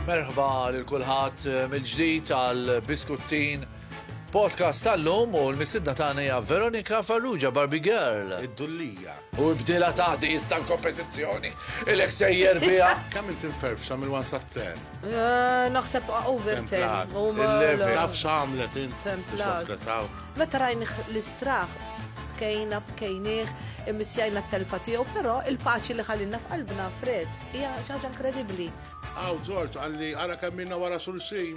Merħba lil kulħadd eh, mill-ġdid għal Biskuttin podcast tal-lum u l-misidna tagħna hija Veronika Farrugia Barbie Girl. Id-dullija. U ibdilha ta' dis tal-kompetizzjoni. Ilek sejjer biha. Kemm inti mferfxa minn wan sat-ten? Eh, naħseb over ten. Il-level. Taf x'għamlet int. Ten plus. Meta rajni l-istraħ bkejna, bkejnieh, imissjajna t-telfa tiegħu, però il-paċi li ħallinna f'qalbna fred hija ħaġa inkredibbli. Aw, Ġorġ, għalli għara kemm minna wara xulxin.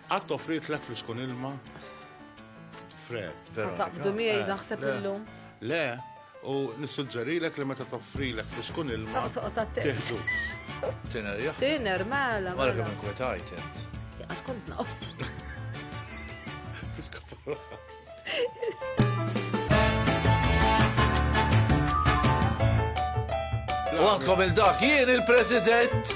Qatt offritlek fl-iskun ilma fred. Ma taqbdu miegħi eh, naħseb illum. Le, u nissuġġerilek li meta toffrilek fl-iskun ilma. Tiħdu. Tiner, jah. Tiner, mela. Mara kemm inkwetajt int. Jaqas kont naf. Fiska U għandkom il-dak jien il-President.